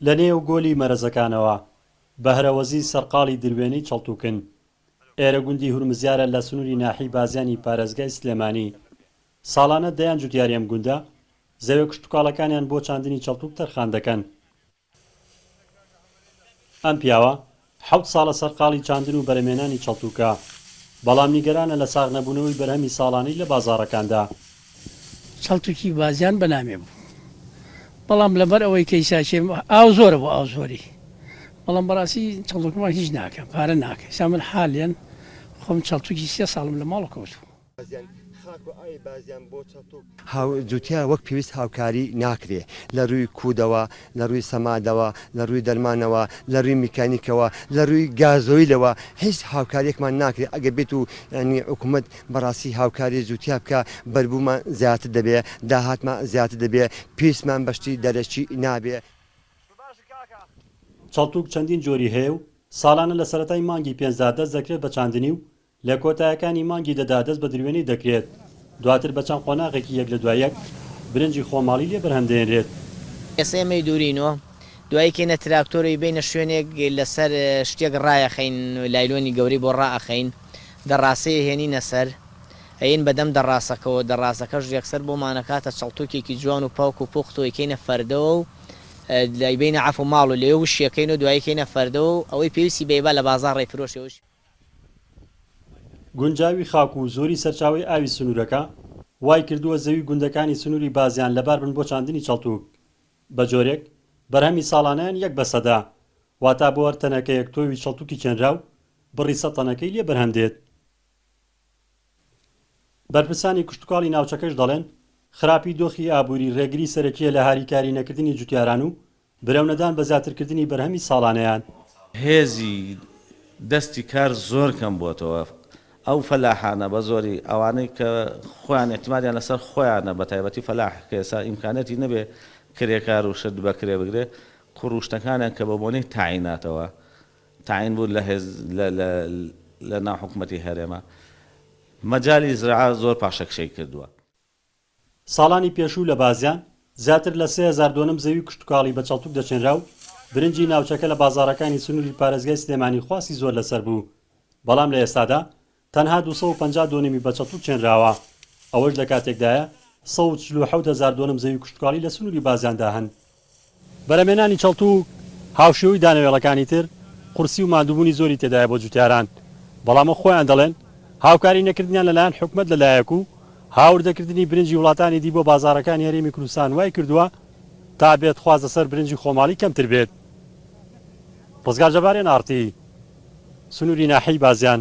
لە نێو گۆلی مەرەزەکانەوە، بەهرەوەزی سەرقاڵی دروێنەی چڵتوکن. ئێرە گوندی هورمزیارە لە سنوری ناحیەی بازیانی پارێزگای سلێمانی. ساڵانە دەیان جوتیاری ئەم گوندە، زەوێ کشتوکاڵەکانیان بۆ چاندنی چڵتوک تەرخان دەکەن. ئەم پیاوە حەوت ساڵە سەرقاڵی چاندن و بەرهەمێنانی چڵتوکە، بەڵام نیگەرانە لە ساغ نەبوونەوەی بەرهەمی ساڵانەی لە بازاڕەکاندا. چڵتوکی بازیان بە نامێ بوو، بەڵام لەبەر ئەوەی کەیساکێ ئاو زۆرە بۆ ئاو زۆری، بەڵام بەڕاستی چڵتوکمان هیچ ناکا، پارە ناکا، ئیستا من حالێن خۆم چڵتوکی سێ ساڵم لە ماڵ کەوتووە. هاو جوتیان وەک پێویست هاوکاری ناکرێ لە رووی کوودەوە، لە رووی سەمادەوە، لە رووی دەرمانەوە، لە رووی میکانیکەوە، لە رووی گازۆیلەوە هیچ هاوکاریەکمان ناکرێ ئەگەر بێت و یانی حکومەت بەڕاستی هاوکاری جوتیا بکا بەربوومان زیاتر دەبێ، داهاتمان زیاتر دەبێ، پیرسمان بە شتی دەرەکی نابێ. چەڵتووک چەندین جۆری هەیە و ساڵانە لە سەرەتای مانگی پێنجدا دەست دەکرێت بە چاندنی و لە کۆتایەکانی مانگی دەدا دەست بە دروێنەی دەکرێت، دواتر بە چەند قۆناغێکی یەک لە دوای یەک برنجی خۆماڵی لێ بەرهەم دێنرێت. ئێستا ئێمە ی دوورین و دوای کەینە تراکتۆر و ئیبەینە شوێنێک لەسەر شتێک ڕایەخەین لایلۆنی گەورەی بۆ ڕائەخەین دەڕاسەی ئەهێنینە سەر ئەیەین بە دەم دەڕاسەکەوە دەڕاسەکەش ڕێکسەر بۆمان ئەکاتە چەڵتوکێکی جوان و پاک و پوخت و ئەیکەینە فەردەوە و ئەیبەینە عەفو ماڵ و لەوێ وشیەکەین و دوایی کەینە فەردەوە و ئەوەی پێویستی بەیبا لە بازاڕ ئەیفرۆشێ و گونجاوی خاک و زۆری سەرچاوەی ئاوی سنوورەکە، وایکردووە زەوی گوندەکانی سنووری بازیان لەباربن بۆ چاندنی چەڵتووک، بەجۆرێک بەرهەمی ساڵانەیان یەک بە سەدە، واتە بۆ هەر تەنەکەیەک تۆوی چەڵتووکی چێنراو، بڕی سەد تەنەکەی لێ بەرهەم دێت. بەرپرسانی کشتوکاڵی ناوچەکەش دەڵێن، خراپی دۆخی ئابووری رێگری سەرەکییە لە هاریکاری نەکردنی جوتیاران و برەونەدان بە زیاترکردنی بەرهەمی ساڵانەیان. هێزی دەستی کار زۆر کەم بۆتەوە، ئەو فەلاحانە بە زۆری ئەوانەی کە خۆیان ئیعتمادیان لەسەر خۆیانە بە تایبەتی فەلاح کە ئێستا ئیمکانیەتی نەبێ کرێکار و شت بە کرێ بگرێ قوڕوشتەکانیان کە بە بۆنەی تاعیناتەوە تەعین بوون لە هێز لە ناو حکومەتی هەرێمە مەجالی زرعە زۆر پاشەکشەی کردووە. ساڵانی پێشوو لە بازیان زیاتر لە سێ هەزار دۆنم زەوی کشتوکاڵی بە چەڵتوک دەچێنرا و برنجی ناوچەکە لە بازاڕەکانی سنووری پارێزگای سلێمانی خواستی زۆر لەسەر بوو، بەڵام لە ئێستادا تەنها دوو سەد و پەنجا دۆنمی بە چەتوو چێنراوە، ئەوەش لە کاتێکدایە سەد و چل و حەوت هەزار دۆنم زەوی کشتوکاڵی لە سنووری بازیاندا هەن. بەرهەمهێنانی چەڵتوو هاوشێوەی دانەوێڵەکانی تر قورسی و ماندووبوونی زۆری تێدایە بۆ جووتیاران، بەڵام وەک خۆیان دەڵێن هاوکاری نەکردنیان لەلایەن حکومەت لەلایەک و هاوردەکردنی برنجی وڵاتانی دی بۆ بازاڕەکانی هەرێمی کوردستان وایکردووە تا بێت خواست لەسەر برنجی خۆماڵی کەمتر بێت. ڕزگار جەبار، ئێن ئاڕ تی، سنووری ناحیەی بازیان.